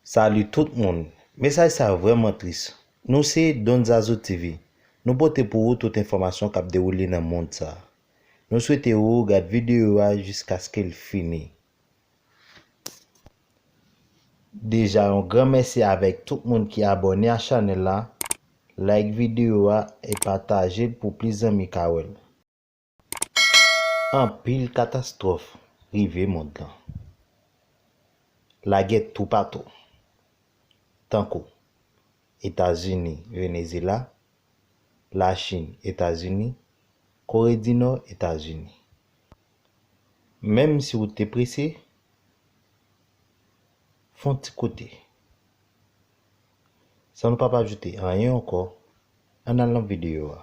Salut tout moun! Mesaj sa vrèman tris. Nou se Don Zazou TV. Nou pote pou ou tout enfòmasyon kap dewoule nan mond sa. Nou swete ou gad videyo a jiskaske l fini. Deja yon gran mèsi avèk tout moun ki abòne a chanèl la. Like videyo a e pataje l pou plis zanmi ka wè l. Anpil katastwòf rive mond lan. Lagè toupatou, tankou, Etazini, Venezela, Lachin, Etazini, Kore di Nò, Etazini. Menm si ou te prese, f'on ti kote. San nou pap ajoute anyen ankò, ann al nan videyo a.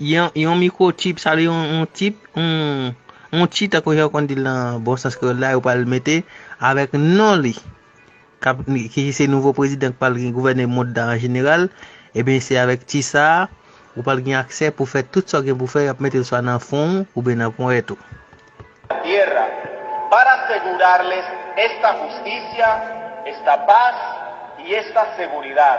Yon microchip sa vle yon yon chip yon chi tankou jan yo konn di l nan bon sans kreyòl la yo pral mete avèk non li kap ki se nouvo prezidan k pral gen gouvène mond la an jeneral ebyen se avèk chi sa ou pral gen aksè pou fè tout sa w gen pou fè y ap mete l swa nan fwon w oubyen nan ponyèt ou. la tierra para asegurarles esta justicia, esta paz y esta seguridad.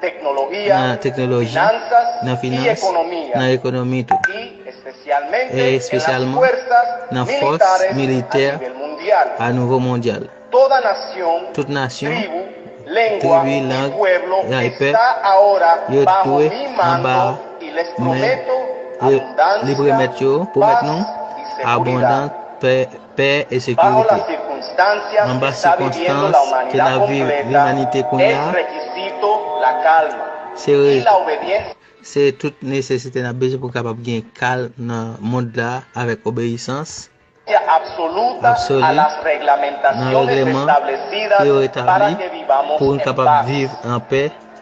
teknologi, nan finans, nan ekonomi tou, e espesyalman nan fòs militè a nivo mondyal. Tout nasyon, tribi, lang, e pèp yo dwe anba men libre mèt yo, pou mèt nou, abondans, pè. pè e sekirite. Nan bas sikonstans ke n ap viv limanite kounye a, se se tout nesesite n ap bezwen pou kapab gen kalm nan mond la avèk obeyisans absoli nan regleman ki yo etabli pou n kapab viv an pè.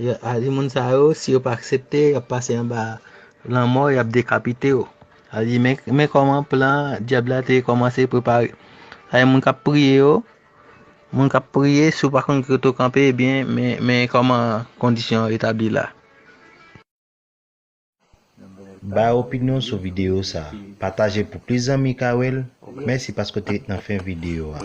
Ya Aly moun sa yo si yo pa aksepte yap pase anba lanmò yap dekapite yo Aly men kòman plan dyab la te kòmanse prepare sa gen moun kap priye yo moun kap priye si w pa konn kote w kanpe ebyen men kòman kondisyon an etabli la. Bay opinyon sou videyo sa. Pataje pou plis zanmi ka wè l. Mèsi paske w te ret nan fen videyo a.